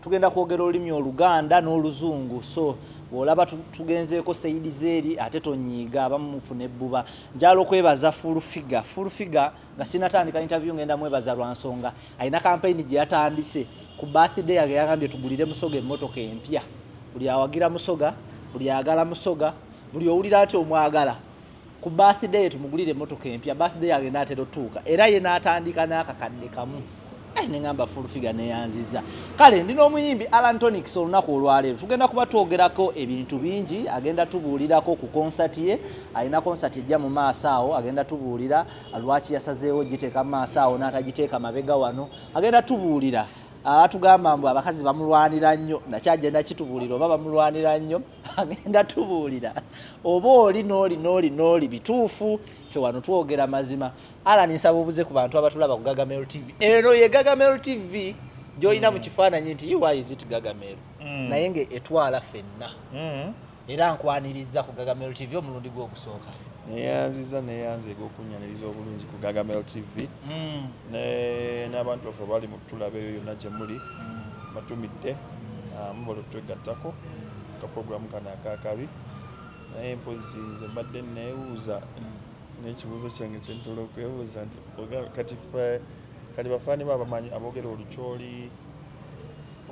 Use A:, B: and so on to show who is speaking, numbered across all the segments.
A: tugenda kwogera olulimi oluganda n'oluzungu so bwolaba tugenzeeko seyidi zeeri ate tonyiiga abamumufu nebbuba njala okwebaza fulfiga fulfiga nga sinatandika interview ngenda mwebaza lwa nsonga alina kampeyini gye yatandise ku birthday yage yagambye tugulire musoga emmotoka empya buli awagira musoga buli ayagala musoga buli owulira nti omwagala ku birthday tumugulire emotoka empya birthday yange naatera otuuka era ye naatandika n'akakadde kamu eh, neŋamba fulfiga neyanziza kale ndi n'omuyimbi alan tonics olunaku olwaleero tugenda kuba twogerako ebintu bingi agenda tubuulirako ku konsati ye alina konsati ejja mu maaso awo agenda tubuulira lwaki yasazeewo giteeka mu maaso awo n'atagiteeka mabega wano agenda tubuulira atugamba mbu abakazi bamulwanira nnyo nakyagenda kitubuulira oba bamulwanira nnyo agenda tubuulira oba oli nooli nooli nooli bituufu fe wano twogera mazima alani nsaba obuze ku bantu abatulaba ku gagamel tv eno ye gagamel tv gyolina mu mm. kifaananyi nti uizit gagamel mm. naye nga etwala fenna mm. era nkwaniriza ku gagamel tv omulundi gwokusooka neyanziza
B: neyanza egokunyaniriza obulungi ku gagamel tv n'abantu baffe bali mutulabeeyo yonna gyemuli batumidde Ah, mubalu twegattako ka program kano akakabi naye mpozi nze mbadde nebuuza nekibuuzo kyange kyentola okwebuuza nti kati fe kati bafaani ba bamanyi abogera olukyoli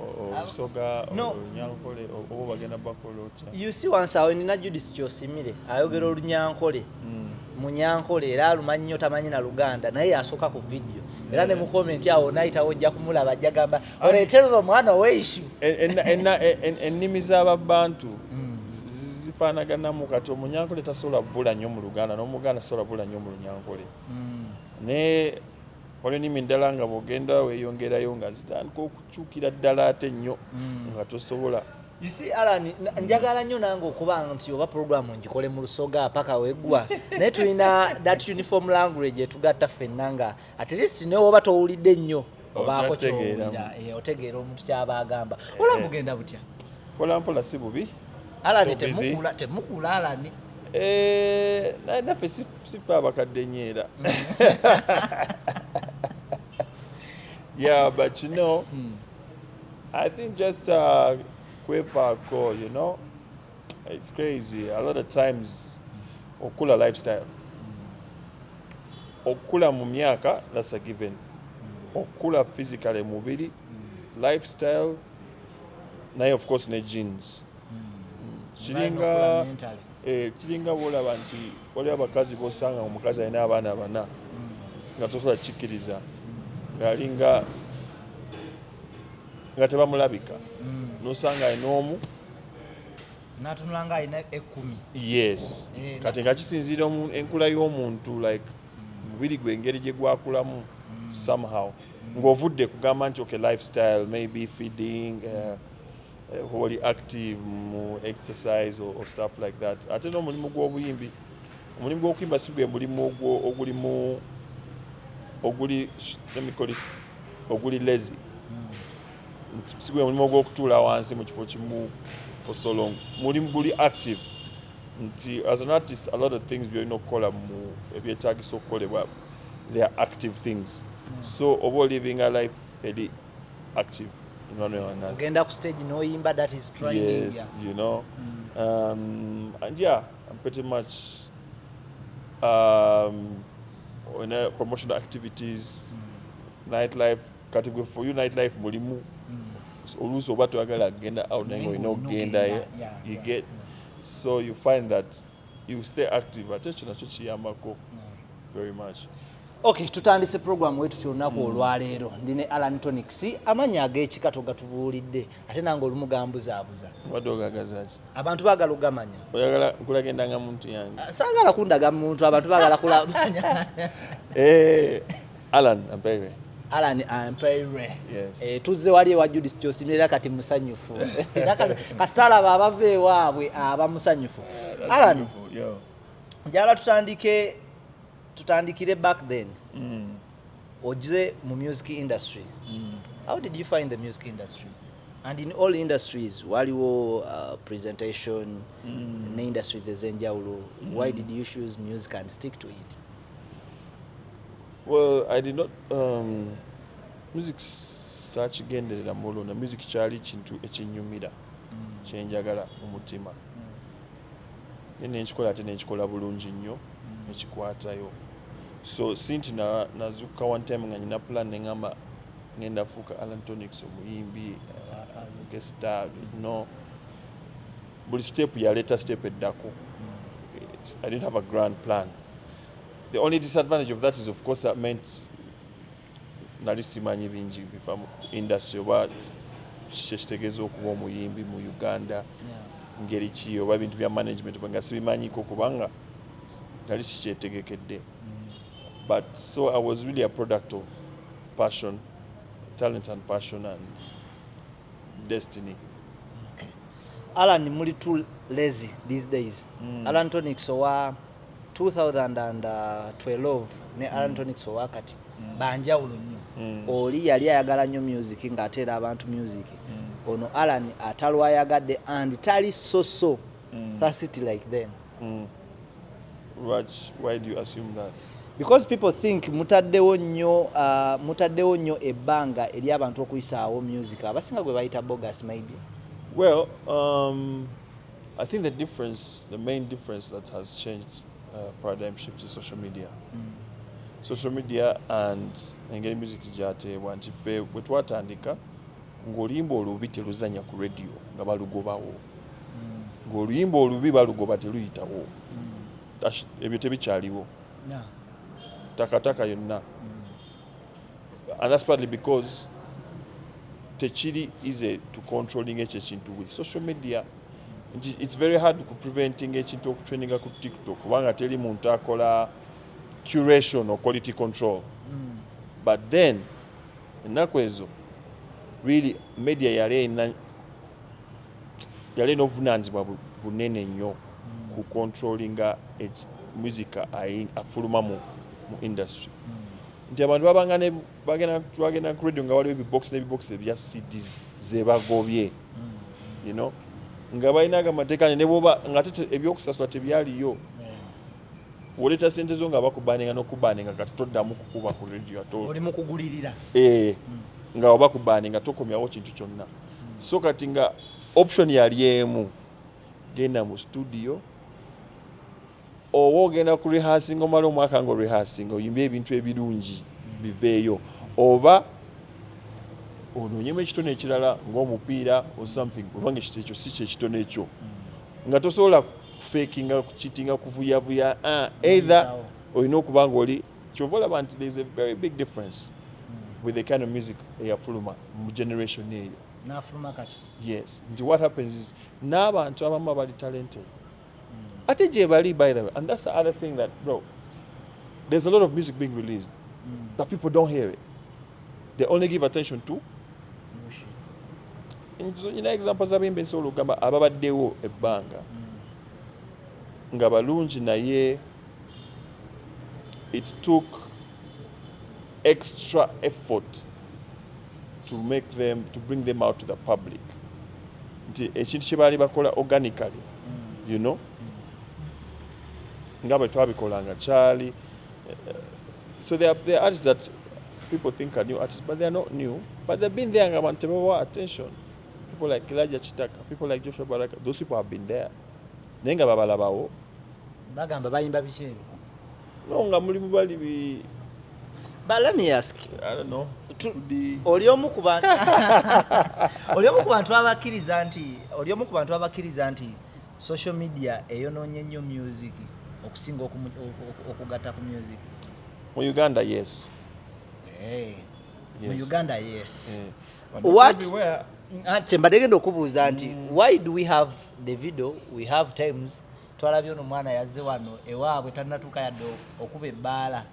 B: olusoga olunyankole oba bagenda bakola otya usi wansi awo nina
A: judis kyosimire ayogera mm. olunyankole mm. munyankole era alumanyi nyo tamanyi na luganda naye yasooka ku vidiyo era ne mukomenti awo nayitawo ojja kumulaba ajja gamba oleterera omwana oweishu
B: ennimi z'ababantu hmm. zifaanaganamu kati omunyankole tasobola bula nnyo mu luganda n'omuganda tasobola bula nnyo mu lunyankole hmm. naye waliwo ennimi ddala nga bwogenda weyongerayo nga zitandika okukyukira ddala ate nnyo hmm. nga tosobola You see Alan,
A: njagala nnyo nange okuba nti oba programu ngikole mu lusoga paka wegwa naye tulina that uniform language etugatta ffenna nga at least ne oba towulidde nnyo obaako kyowulira eh, otegeera omuntu kyaba agamba eh. ola mugenda butya mpolampola si
B: bubi alani
A: temukula alani eh,
B: naye naffe sife abakadde nyo era mm. yeah but you know mm. i think just uh, kwefaako you know It's crazy. A lot of times, okula lifestyle. Okula mu myaka, that's a given. Okula physically mubiri, lifestyle, naye of course ne jeans. Kiringa eh kiringa bola banti wali abakazi bosanga omukazi alina abaana bana. Nga tosobola kikiriza. Ngalinga nga tebamulabika. Mm. Nosanga enomu
A: natunula nga alina ekumi yes eh,
B: kati nga kisinziira enkula y'omuntu like mubiri gwe engeri gye gwakulamu mm. somehow mm. ng'ovudde kugamba nti okay lifestyle maybe feeding uh, uh, oli active mu exercise or, or stuff like that ate n'omulimu gw'obuyimbi omulimu gw'okuyimba si gwe mulimu ogulimu oguli let me call it oguli lazy sigwe mulimu ogw'okutuula wansi mu kifo kimu for so long mulimu guli active nti as an artist a lot of things byolina okukola mu ebyetagisa okukolebwa they are active things so oba oliving a life eri active ogenda ku stage noyimba
A: that is trying yes you know
B: mm. um, and yeah i'm pretty much um, in promotional activities mm. nightlife kati gwe for you night life mulimu hmm. oluusi oba toyagala agenda out naye ngaolina okugendayo you get so you find that you stay active ate ekyo nakyo kiyambako hmm. very much ok
A: tutandise program wetutya olunaku hmm. olwaleero ndi ne alan tonics amanyi agekika togatubuulidde ate nange olumu gambuzaabuza
B: abantu
A: bagala
B: ogamanya ah, sagala kundaga
A: muntu abantu bagala kulamanya eh.
B: Alan Ampere. Alan
A: Ampere. Yes. Eh, tuzze
B: wali ewa Judith
A: Kyosimire era kati musanyufu. Era kasita alaba abava ewaabwe aba musanyufu. Eh, Alan, njagala tutandike tutandikire back then. Mm. Ojze mu music industry. Mm. How did you find the music industry? And in all industries waliwo uh, presentation mm. ne industries ezenjawulo. Mm. Why did you choose music and stick to it?
B: Well, I did not, um, music saakigenderera mulo na music kyali kintu ekinyumira mm. kyenjagala mu mutima mm. naye nenkikola ate nenkikola bulungi nnyo mm. nekikwatayo so sinti nazukka one time nga nyina plan neŋamba ngenda fuuka alantonics omuyimbi uh, afuuke star no buli step yaleeta step eddako i didn't have a grand plan The only disadvantage of that is of course I meant nali simanyi bingi biva mu industry oba kyekitegeeza okuba omuyimbi mu Uganda ngeri ki oba ebintu bya management nga sibimanyiko kubanga nali sikyetegekedde mm. but so I was really a product of passion talent and passion and destiny
A: okay. alan muli too lazy these days mm. alan tonics owa 2012 ne alan mm. tonics owa kati mm. banjawulo nnyo mm. oli yali ayagala nnyo music ng'ateera abantu music mm. ono alan atalwayagadde and tali soso mm. that city like them mm. Raj,
B: why do you assume that because people think
A: mutaddewo nnyo uh, mutaddewo nnyo ebbanga eri abantu okuyisaawo music abasinga gwe bayita bogus maybe well
B: um, i think the difference the main difference that has changed uh, paradigm shift is social media mm. social media and engeri music gyateebwa nti ffe bwe twatandika ng'olimba olubi teluzanya ku radio nga balugobawo ng'oluyimba olubi balugoba teluyitawo mm. ebyo tebikyaliwo takataka yonna mm. and that's partly because tekiri easy to controlling ekyo ekintu with social media nti it's very hard ku preventing ekintu okutraininga ku tiktok kubanga teri muntu akola curation or quality control mm. but then ennaku ezo really media yali erina yali ena obuvunanyizibwa bunene nnyo ku controllinga music afuluma mu industry nti abantu babanga bagenda ku radio nga waliwo ebibox nebibox ebya cd zebagobye you know nga balina ago amateeka nebwoba ngate ebyokusasula tebyaliyo woleeta sente zo nga bakubaninga nokubaninga kati toddamu kukuba ku radio atooli mukugulirira
A: eh,
B: nga obakubaninga tokomyawo kintu kyonna so kati nga option yali emu genda mu studio oba ogenda ku rehearsing omala omwaka nga rehearsing oyimba ebintu ebirungi biveeyo oba onoonyemu ekitone ekirala ngaomupiira or something obanga ekyo si kyekitone ekyo mm. nga tosobola kufekinga kukitinga kuvuyavuya ah, either olina okuba nga oli kyova olaba nti there is a very big difference with the kind of music eyafuluma mu generation eyo nafuluma kati
A: yes nti what
B: happens is n'abantu abamu abali talented mm. ate gyebali by the way and that's the other thing that bro there's a lot of music being released mm. but people don't hear it they only give attention to nyina example zabimba ensobola okugamba ababaddewo ebbanga mm. nga balungi naye it took extra effort to make them to bring them out to the public nti ekintu kye baali bakola organically mm. you know mm. nga bwe twabikolanga kyali eh, so there are, there are artists that people think are new artists but they are not new but they've been there nga abantu tebawa attention people like Elijah Chitaka people like Joshua Baraka those people have been there naye nga babalabawo bagamba
A: bayimba biki ebyo no nga
B: mulimu bali bi But let
A: me ask you. I don't know.
B: Oli
A: omu ku bantu Oli omu ku bantu abakkiriza nti Oli omu ku bantu abakkiriza nti social media eyonoonye nnyo music okusinga okugatta ku music. Mu
B: Uganda yes. Hey. Eh,
A: yes. Mu
B: Uganda yes.
A: Mm. what ate
B: mbadde genda
A: okubuuza nti mm. why do we have the video we have times twalabye ono mwana yazze wano ewaabwe tannatuuka yadde okuba ebbaala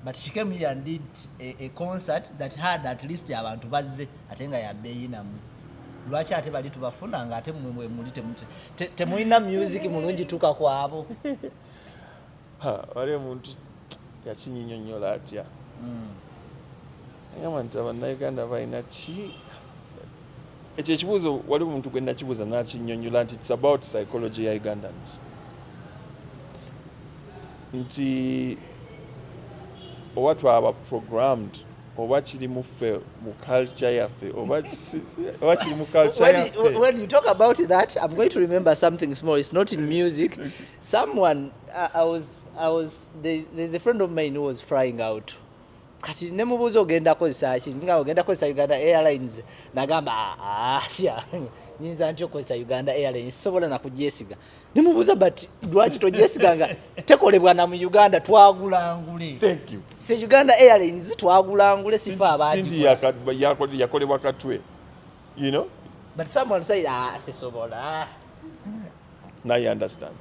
A: but she came here and did a, a concert that had at least abantu bazze ate nga yabeyinamu lwaki ate bali tubafuna nga ate muli temulina music mulungi tuka kwabo
B: wali omuntu yakinyinyonyola atya mm. Agamba nti abannayuganda balina ki ekyo ekibuuzo wali omuntu gwe nakibuuza nakinyonyola nti its about psychology ya ugandans nti oba twaba programmed oba kiri muffe mu culture yaffe oba kiri mu culture yaffe when you talk about
A: that i'm going to remember something small it's not in music someone i, I was i was there's, there's a friend of mine who was flying out kati ne mubuuza ogenda kozesa ki nga ogenda kozesa uganda airlines nagamba asya ah, ah, nyinza nti okozesa uganda airlines sobola nakugyesiga ne mubuuza but lwaki togyesiga nga tekolebwa na mu uganda twagulangule se
B: uganda airlines
A: twagulangule sifa abandi
B: yakolebwa katwe you know but someone said
A: ah sisobola
B: now you understand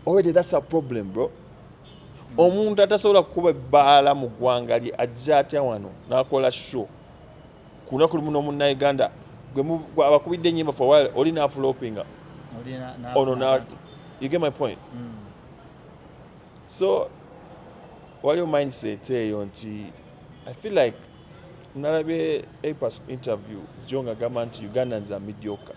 B: already that's a problem bro omuntu atasobola kukuba ebbaala mu ggwanga lye ajja atya wano nakola show kunaku lumu nomunnauganda abakubidde enyimba for while oli nafulopinga ono na you get my point mm. so waliwo mindset eyo nti i feel like nalabye apas interview jo nga gamba nti ugandans are mediocre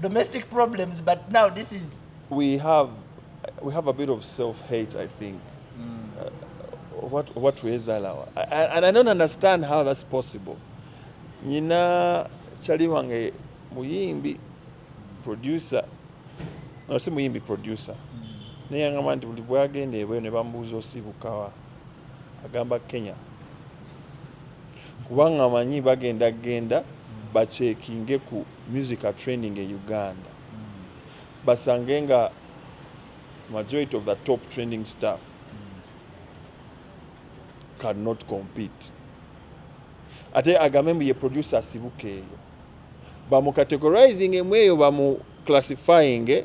A: domestic problems but now this is we have
B: we have a bit of self hate i think mm. uh, what what we ezalawa and i don't understand how that's possible nyina chali wange muyimbi producer no si muyimbi producer mm. naye angamba nti buli bwagenda ebweyo ne bambuuza osibukawa Agamba Kenya kubanga amanyi bagenda genda bakyekinge ku musical training e Uganda basange nga majority of the top training staff cannot compete ate agambe mbu ye producer asibuka eyo bamucategorizing emu eyo bamuclassifying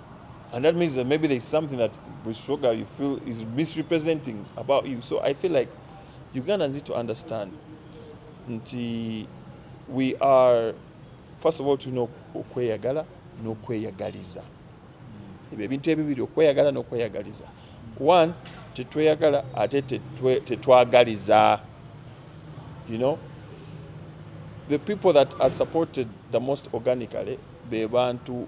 B: And that means that maybe there's something that Bushoga you feel is misrepresenting about you. So I feel like Ugandans need to understand nti we are first of all tulina okweyagala n'okweyagaliza ebyo ebintu ebibiri okweyagala n'okweyagaliza one tetweyagala ate tetwagaliza you know the people that are supported the most organically be bantu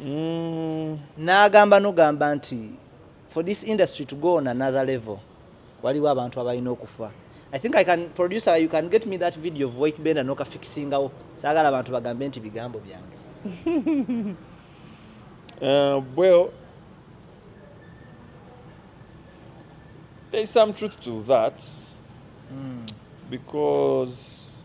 A: mm. n'agamba nogamba nti for this industry to go on another level waliwo abantu abalina okufa i think i can producer you can get me that video of wake benda nokafikisingawo saagala abantu bagambe nti bigambo byange
B: uh, well there's some truth to that mm. because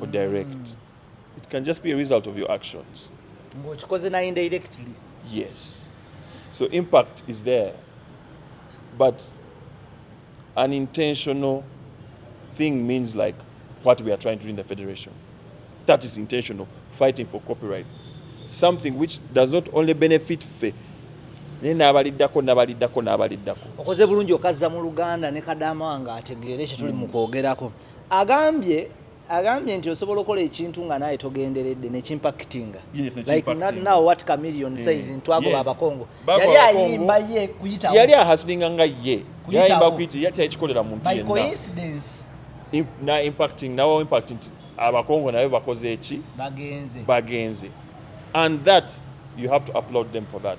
B: or direct. It can just be a result of your actions. Ngokikoze na
A: indirectly. Yes.
B: So impact is there. But an intentional thing means like what we are trying to do in the federation. That is intentional, fighting for copyright. Something which does not only benefit fe naye n'abaliddako n'abaliddako
A: n'abaliddako okoze bulungi okazza mu luganda ne kadama wange ategeere kye tuli mu mm. kwogerako mm. agambye agambye nti osobola okola ekintu nga naye togenderedde nekimpakitinga yali ayimba ye kuyitawo yali ahasilinga nga
B: ye yayimba kuyita teyakikolera muntu
A: na impacting
B: nawa impact nti abakongo nabe bakoze eki bagenze bagenze and that you have to applaud them for that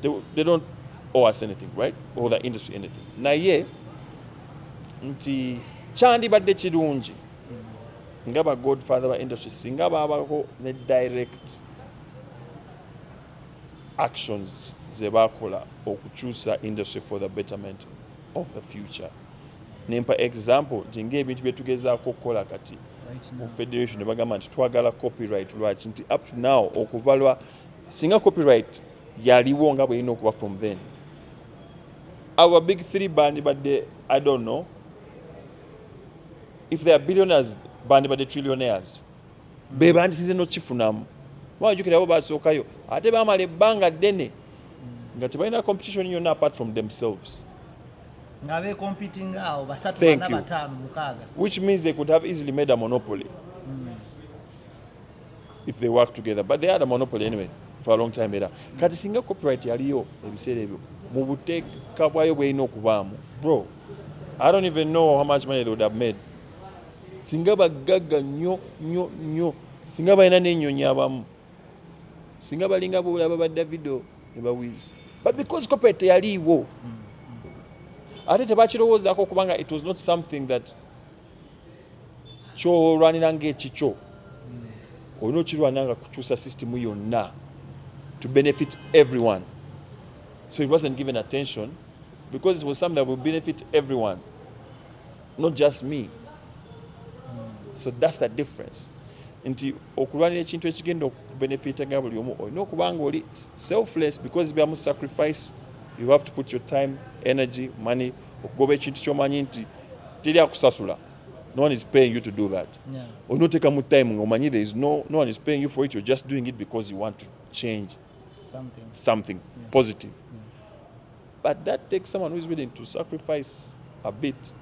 B: They, they don't owe us anything, right? Or the industry anything. Naye nti kyandibadde kirungi nga ba godfather ba industry singa babako ne direct actions ze bakola okukyusa industry for the betterment of the future nempa example nti ngaebintu byetugezaako okukola kati mu federation nebagamba nti twagala copyright lwaki nti up to now okuva lwa singa copyright yaliwo nga bwelina okuba from then our big three bandibadde i don't know if they are billionaires bandibadde trillionaires be bandisize nokifunamu wajukira abo basookayo ate bamala ebbanga ddene nga tebalina competition yonna apart from themselves nga be
A: competing awo basatu bana batano mukaaga which means they could have easily
B: made a monopoly if they work together but they had a monopoly anyway for a long time era kati singa copyright yaliyo ebiseera ebyo mu buteeka bwayo bwelina okubaamu bro i don't even know how much money they would have made singa bagagga nyo nyo nyo singa balina nenyonyi abamu singa balinga bolaba ba davido ne bawizi but because copyright teyaliiwo ate tebakirowoozako kubanga it was not something that kyolwanira ngaekikyo hmm. olina okirwanira nga kukyusa system yonna to benefit everyone so it wasn't given attention because it was something that will benefit everyone not just me hmm. so that's the difference nti okulwanira ekintu ekigenda okubenefitanga buli omu olina okuba nga oli selfless because byamu sacrifice you have to put your time energy money okugoba ekintu kyomanyi nti teri akusasula no one is paying you to do that yeah. olina oteeka mu time nga omanyi there is no, no one is paying you for it you're just doing it because you want to change something, something yeah. positive yeah. but that takes someone who is willing to sacrifice a bit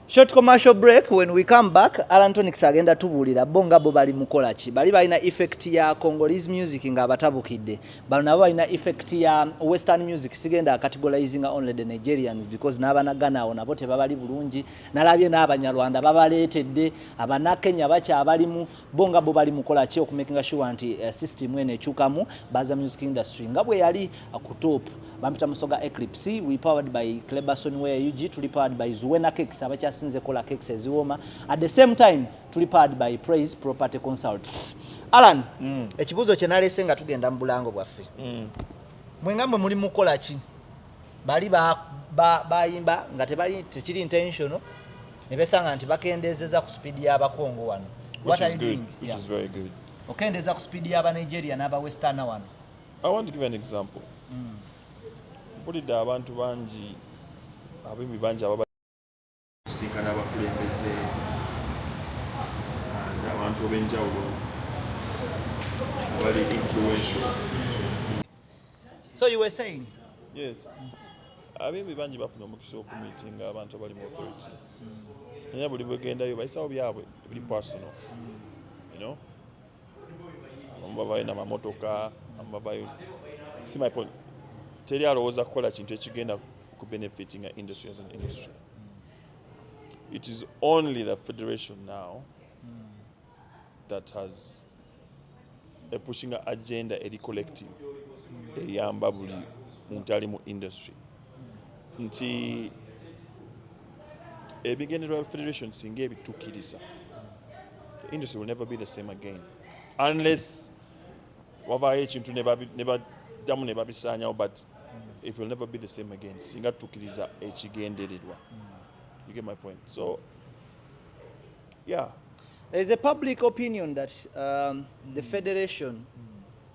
A: Short commercial break when we come back Alan Tonix agenda tubuulira bo nga bo bali mukola ki bali balina effect ya Congolese music nga abatabukidde bano nabo balina effect ya western music sigenda categorizing only the Nigerians because n'abana Ghana awo nabo tebabali bulungi nalabye n'abanyarwanda babaleetedde abana Kenya bakyabalimu bo nga bo bali mukola ki okumakinga sure nti uh, system eno ekyukamu baza music industry nga bwe yali uh, ku top bampita musoga eclipse we powered by cleberson where ug tuli powered by zuwena cakes abakyasinze kola cakes eziwooma at the same time tuli powered by praise property consults alan mm. ekibuuzo kye nalese nga tugenda mu bulango bwaffe mm. mwe nga mwe muli mukola ki bali bayimba nga tebali tekiri intentional ne besanga nti bakendeezeza ku sipiidi y'abakongo wano
B: okendeeza ku sipiidi
A: y'abanigeria n'abawesterna wano i want to give an
B: example mm. mpulidde abantu bangi abimi bangi ababa Tusisinkana abakulembeze and abantu ob'enjawulo abali influential.
A: So you were saying? Yes.
B: Abeebi bangi bafuna omukisa okumiitinga abantu abali mu authority. Naye buli bwegendayo bayisawo byabwe buli personal. You know? abamu babayo namamotoka abamu babayo si my point teri alowooza kukola kintu ekigenda ku benefiting a industry as an industry it is only the federation now that has a pushing agenda eri collective eyamba buli muntu ali mu industry nti ebigendererwa bya federation singa ebitukiriza industry will never be the same again unless wavaayo ekintu nebaddamu ne babisaanyawo but it will never be the same again singa tutukiriza ekigendererwa you get my point so yeah there
A: is a public opinion that um, the federation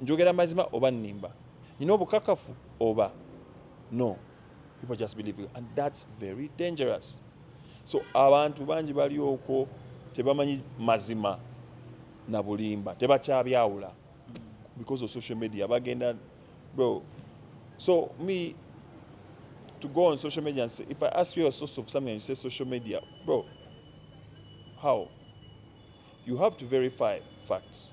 B: Njogera mazima oba nimba? Nina obukakafu oba no? People just believe you and that's very dangerous. So abantu bangi bali okwo tebamanyi mazima na bulimba, tebakyabyawula because of social media bagenda bro. So me to go on social media and say, if I ask you a source of something and you say social media, bro, how? You have to verify facts.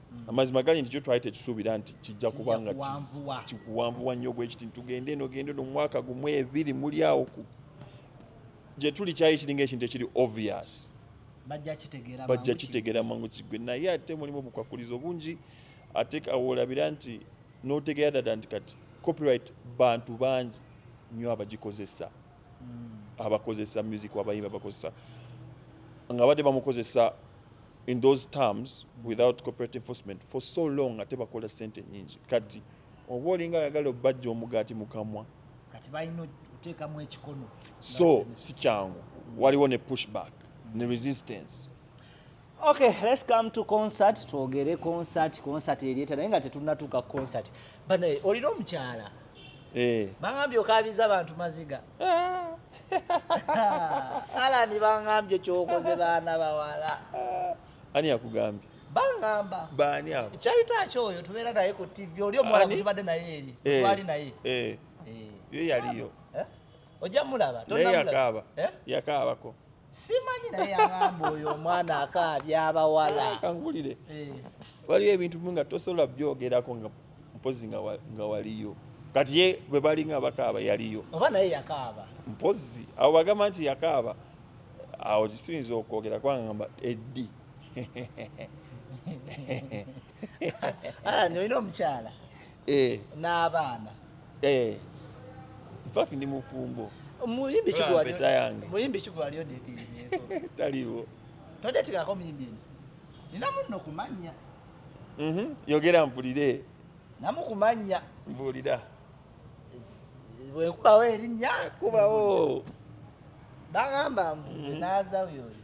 B: Mm. amazima gali nti kyo twali tekisuubira nti kijja kuba nga kikuwanvuwa nnyo bwe kiti ntugende eno gende no mwaka gumu ebiri muli awo ku gye tuli kyali kiringa ekintu ekiri obvious bajja kitegeera mangu kigwe naye ate mulimu obukwakulizo bungi ate awolabira nti notegeera dada nti kati copyright bantu bangi nyo abagikozesa mm. abakozesa music abayimba bakozesa nga badde bamukozesa in those terms without corporate enforcement for so long ate bakola sente nyingi kati oba olinga ayagala obajja omugaati mukamwa kati balina
A: oteekamu ekikono so si
B: kyangu waliwo ne pushback ne resistance okay
A: let's come to concert twogere concert concert eryeta naye nga tetunatuuka concert banaye olina omukyala eh. bangambye okabiza bantu maziga alani bangambye kyokoze baana bawala ani
B: yakugambye bangamba
A: baani abo kyayita
B: ki oyo tubeera
A: naye ku tv oli omuwala gutubadde naye eri eh, twali naye eh. Eh. yo
B: yaliyo ojja
A: mulaba yakaaba
B: yakaabako simanyi
A: naye yagamba oyo omwana akaabya abawala kankulire
B: eh. waliwo ebintu bimu nga tosobola byogerako nga mpozi nga waliyo kati ye bwe bali nga bakaaba yaliyo oba naye yakaaba
A: mpozi abo
B: bagamba nti yakaaba awo kituyinza okwogera kwangamba eddi
A: ah, olina omukyala eh. n'abaana eh.
B: infact ndi mufumbo muyimbi
A: kigwalyo taliwo
B: todetikako
A: muyimbi eno nina munno kumanya mhm.
B: yogera mpulire namukumanya
A: mbuulira bwekubawo erinnya kubawo bagamba mbu mhm. nazawo yoyo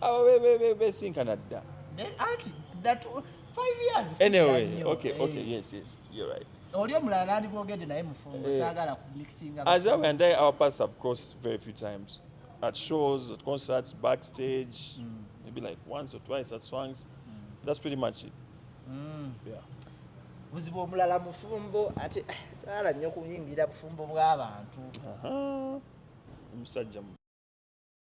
B: abo besinkana dda anti
A: anyway okay
B: eh. okay yes yes you're right oli omulala nandibwogedde
A: naye mufumbo eh. sagala kumixinga as i and i our
B: paths have crossed very few times at shows at concerts backstage mm. maybe like once or twice at swings mm. that's pretty much it mm. yeah
A: buzibu omulala mufumbo ate eh, saala nnyo kuyingira bufumbo bw'abantu
B: omusajja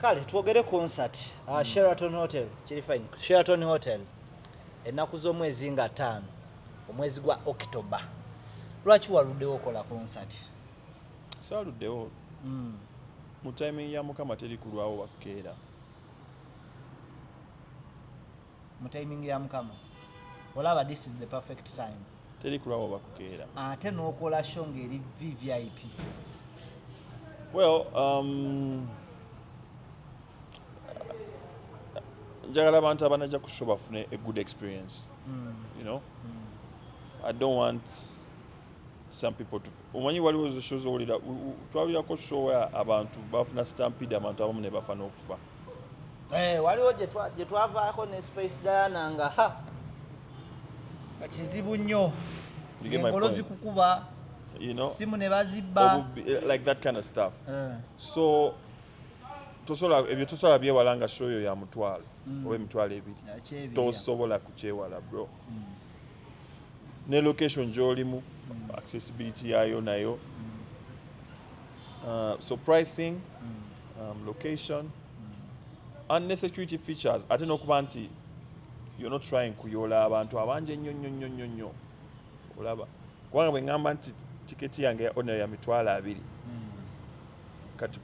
B: kale
A: twogere concert uh, mm. sheraton hotel kiri fine sheraton hotel ennaku z'omwezi nga ttaano omwezi gwa october lwaki waluddewo okola concert
B: saluddewo mm. mu timing ya mukama teri kulwawo wakkeera
A: mu timing ya mukama olaba this is the perfect time teri kulaba
B: bakukeera ate nokola
A: show ngeri vvip well
B: um, njagala abantu abanaja ku show bafune a good experience mm. you know mm. i don't want some people to omanyi waliwo zishow zowulira twawulirako show abantu bafuna stampede abantu abamu ne bafa n'okufa Eh,
A: waliwo gye twavaako ne space diana nga ha kizibu nnyo engolo zikukuba you know simu ne bazibba eh, like that kind of
B: stuff uh. so tosola ebyo tosola byewala nga show yo ya mutwalo mm. oba emitwalo ebiri tosobola kukyewala bro mm. ne location gyolimu accessibility yayo nayo uh, so pricing um, location and ne security features ate n'okuba nti you're not trying kuyoola abantu abangi ennyo nnyo nnyo nnyo nnyo olaba kubanga bwe ŋŋamba nti tiketi yange ya ordinary ya mitwalo abiri kati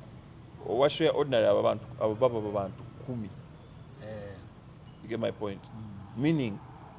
B: owa show ya ordinary abo abantu abo baba babantu kumi you get my point meaning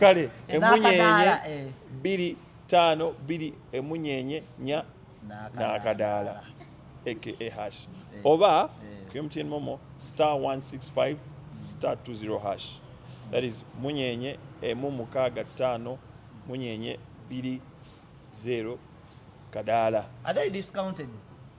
A: kale
B: emunyenye eh. biri tano biri emunyenye nya nakadaala aka eh, hash eh. oba ku mtn momo star 165 star 20 hash that is munyenye emu mukaaga ttaano munyenye biri zero kadaala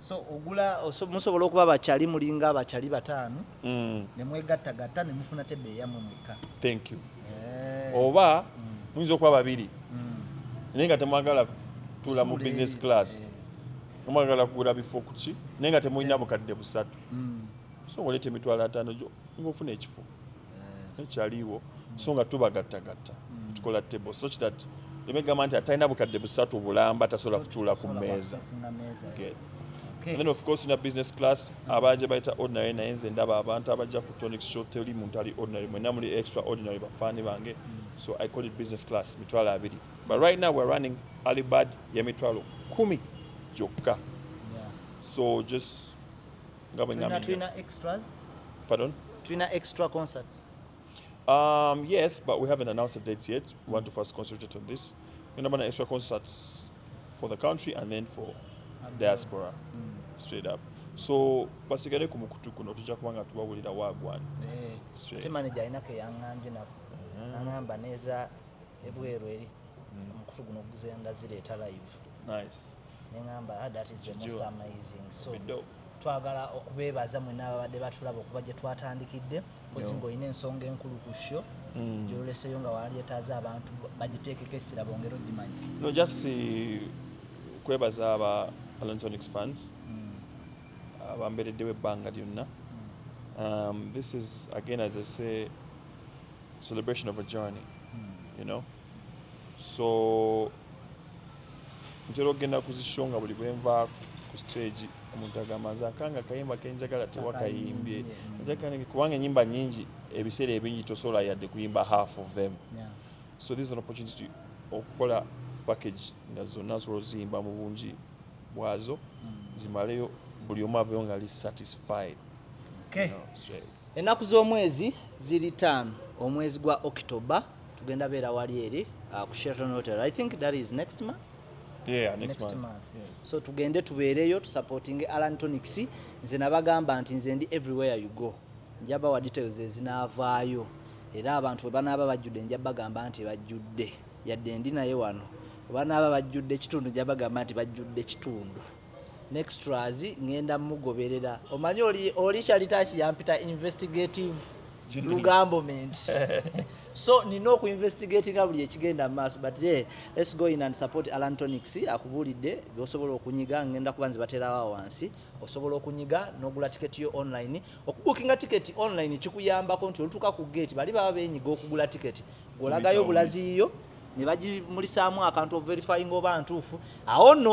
B: so
A: ogula musobola okuba bakyali mulinga abakyali bataano mm. nemwegattagatta nemufuna tebe eyamwe mwekka thank you
B: eh. oba mm. muyinza okuba babiri mm. naye nga temwagala tula mu business class eh. nomwagala kugula bifo kuki naye nga temulina bukadde busatu so ngoleta emitwalo ataano gyo ngaofuna ekifo ekyaliwo so nga tubagattagatta mm. tukola table such that emegamba nti atalina bukadde busatu bulamba tasobola kutuula ku mmeeza And then of course na business class abaje baita ordinary naye nze ndaba abantu abaja ku tonic show teli muntu ali ordinary mwena muli extraordinary bafani bange mm. so i call it business class mitwalo abiri but right now we're running alibad ya mitwalo kumi gyokka so just nga bwe tulina
A: tulina extras pardon
B: tulina extra
A: concerts um
B: yes but we haven't announced the dates yet we want to first concentrate on this we have extra concerts for the country and then for diaspora mm. straight up so basigale ku mukutu kuno tujja kuba nga tubawulira wagwan eh, te
A: manager alina keyaŋambye nabo mm-hmm. naŋamba neza ebweru eri mm. omukutu guno guzendazireeta live nice
B: nengamba ah, that
A: is the most amazing so twagala okubeebaza mwena ababadde batulaba okuba gye twatandikidde kozi ngaolina ensonga enkulu ku sho mm. gyoleseyo nga walyetaaza abantu bagiteekeko essira bongere ogimanya no just
B: eh, kwebaza aba alontonix fans mm. abambereddewo ebbanga lyonna mm. um, this is again as i say celebration of a journey you know so ntera okugenda ku zisho nga buli bwenva ku stage omuntu agamba nze akanga akayimba kenjagala tewakayimbye kubanga enyimba nyingi ebiseera ebingi tosobola yadde kuyimba half of them so this is an opportunity okukola package nga zonna nsobola oziyimba mu bungi bwazo mm. zimaleyo buli omu aveyo nga li satisfied
A: ennaku z'omwezi ziri taano omwezi gwa october tugenda beera wali eri uh, ku Sheraton Hotel I think that is next month Yeah, next, next
B: month, month. Yes. so tugende
A: tubeereyo tusupportinge Alan Tonics nze nabagamba nti nze ndi everywhere you go njabawa details ezinaavaayo era abantu bwe banaaba bajjudde nja bagamba nti bajjudde yadde ndi naye wano banaaba bajjudde ekitundu nja bagamba nti bajjudde ekitundu nextras ngenda mugoberera omanyi oli oli kyalitaki yampita investigative lugambo ment so nina oku investigatinga buli ekigenda maaso but hey, let's go in and support alan tonics akubuulidde byosobola okunyiga ngenda kuba nze baterawo wansi osobola okunyiga nogula tiketi yo online okubukinga tiketi online kikuyambako nti olutuka ku gate bali baba benyiga okugula tiketi gwolagayo bulaziiyo ne bagimulisaamu akantu overifyinga oba ntuufu awo nno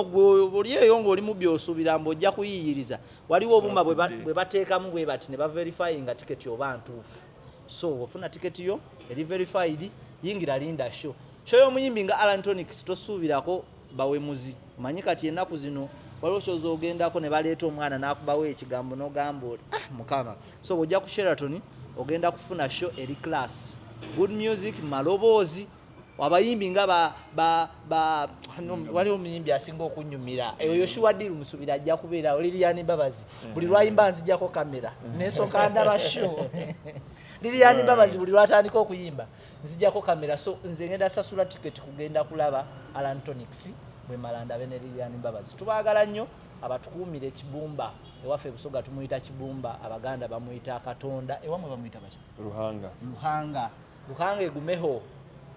A: oli eyo ng'oli mu byosuubira mbu ojja kuyiiyiriza waliwo obuma bwe bateekamu bwe bati ne baverifyinga tiketi oba ntuufu so ofuna tiketi yo eri verified yingira linda show show y'omuyimbi nga alantonics tosuubirako bawemuzi manyi kati enaku zino waliwo kyoza ogendako ne baleeta omwana nakubawo ekigambo nogamba oli ah, mukama so bwojja ku sheraton ogenda kufuna show eri class good music maloboozi abayimbi nga wali omuyimbi asinga okunyumira eyo yoshuwa diru musubira ajja kubeera liliyani babazi buli lwayimba nzijako kamera nesoka ndaba show liliyani babazi buli lwatandika okuyimba nzijako kamera so nze ngenda sasula ticket kugenda kulaba alantonics bwe malanda bene lilian mbabazi tubagala nnyo abatukuumira ekibumba ewaffe ebusoga tumuyita kibumba abaganda bamuyita katonda ewamwe bamuyita bati luhanga luhanga luhanga egumeho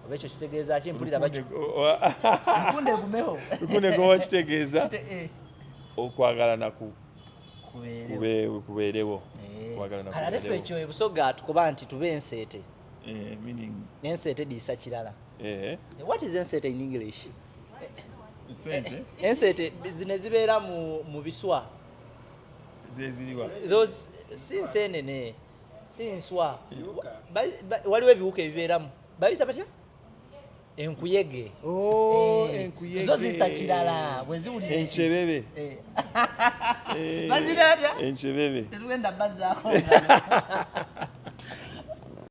A: oba ekyo kitegeeza ki mpulira bakikunda egumeho lukunde gowa
B: kitegeeza eh. okwagala naku kubeerewo eh. kaladefe
A: ekyo ebusoga tukuba nti tube enseete Eh, meaning
B: ensete disa
A: kirala eh. what is ensete in english ensete ensete zine zibeera mu, mu biswa
B: zeziriwa those
A: si nsenene si nswa waliwo ebiwuka ebibeeramu bayita batya enkuyege oh,
B: eh, zo zisa
A: kirala bwe ziwulira enkebebe eh.
B: eh,
A: bazira atya
B: enkebebe tetugenda
A: bazaako